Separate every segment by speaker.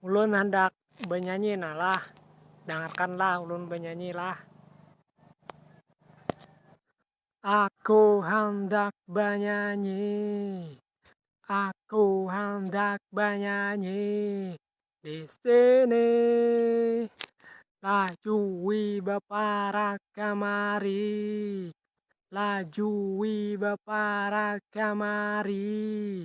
Speaker 1: Ulun handak banyanyi nah lah, dangarkan lah ulun banyanyi lah. Aku handak banyanyi, aku handak banyanyi disini, lajui baparak kamari, lajui baparak kamari,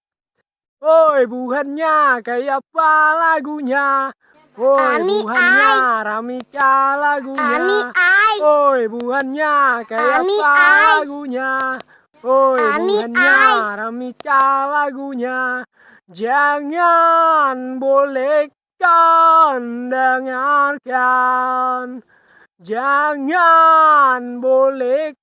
Speaker 1: Woi buhannya kayapa lagunya Woi buhannya ramika lagunya Woi buhannya kayapa lagunya Woi buhannya ramika lagunya Jangan boleh kan dengarkan Jangan boleh